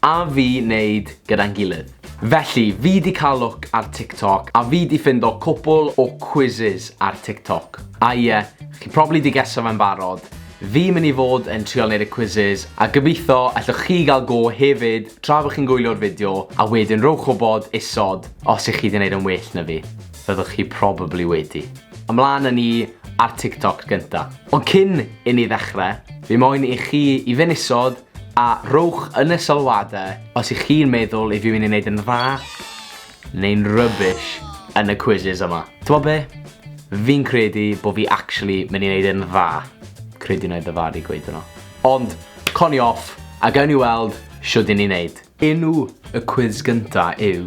A fi neud gyda'n gilydd. Felly, fi di cael look ar TikTok a fi di ffindo cwpwl o quizzes ar TikTok. A ie, chi probably di geso fe'n barod, fi myn i fod yn trial neud y quizzes a gobitho allwch chi gael go hefyd tra bo chi'n gwylio'r fideo a wedyn rowch wbod isod os i chi di neud yn well na fi. Fyddwch chi probably wedi. Ymlan a ni ar TikTok gynta. Ond cyn i ni ddechre, fi moyn i chi i fyn isod A rhowch yn y sylwadau os ych chi'n meddwl i fi mynd i wneud yn dda neu'n rubbish yn y quizzes yma. T'mo' be'? Fi'n credu bo' fi actually mynd i wneud yn dda. Credu wna i ddyfaru gweud hwnna. Ond, co ni off, a gawn ni weld shwd 'yn ni'n neud. Enw y cwis gynta' yw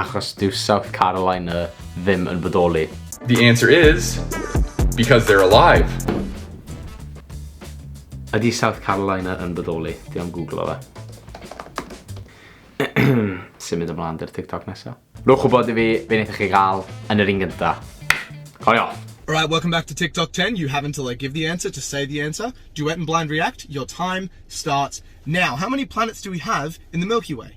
Achos dyw South Carolina ddim yn bodoli. The answer is, because they're alive! Ydy South Carolina yn bodoli? Dwi am googlo fe. Symud ymlaen dy'r TikTok nesa. Rwch wybod i fi be wnaethoch chi gael yn yr un gynta. Coli off! Alright, welcome back to TikTok 10. You have until I give the answer to say the answer. Duet and blind react. Your time starts now. How many planets do we have in the Milky Way?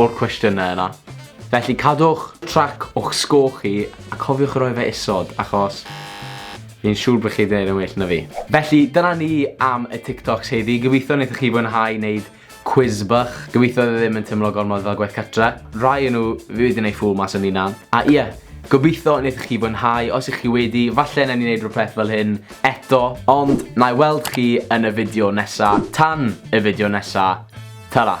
o'r cwestiynau yna. Felly cadwch trac o'ch sgôr chi a cofiwch roi fe isod achos fi'n siŵr bod chi'n gwneud yn well na fi. Felly dyna ni am y TikToks heddi. Gobeithio wnaethoch chi fwynhau wneud cwis bach. Gobeithio oedd e ddim yn teimlo gormod fel gwaith cartre. Rai o nhw fi wedi wneud ffŵl mas o'n hunan. A ie, gobeithio wnaethoch chi fwynhau. Os ych chi wedi, falle wnawn ni wneud rhywbeth fel hyn eto. Ond na i weld chi yn y fideo nesa. Tan y fideo nesa, tara!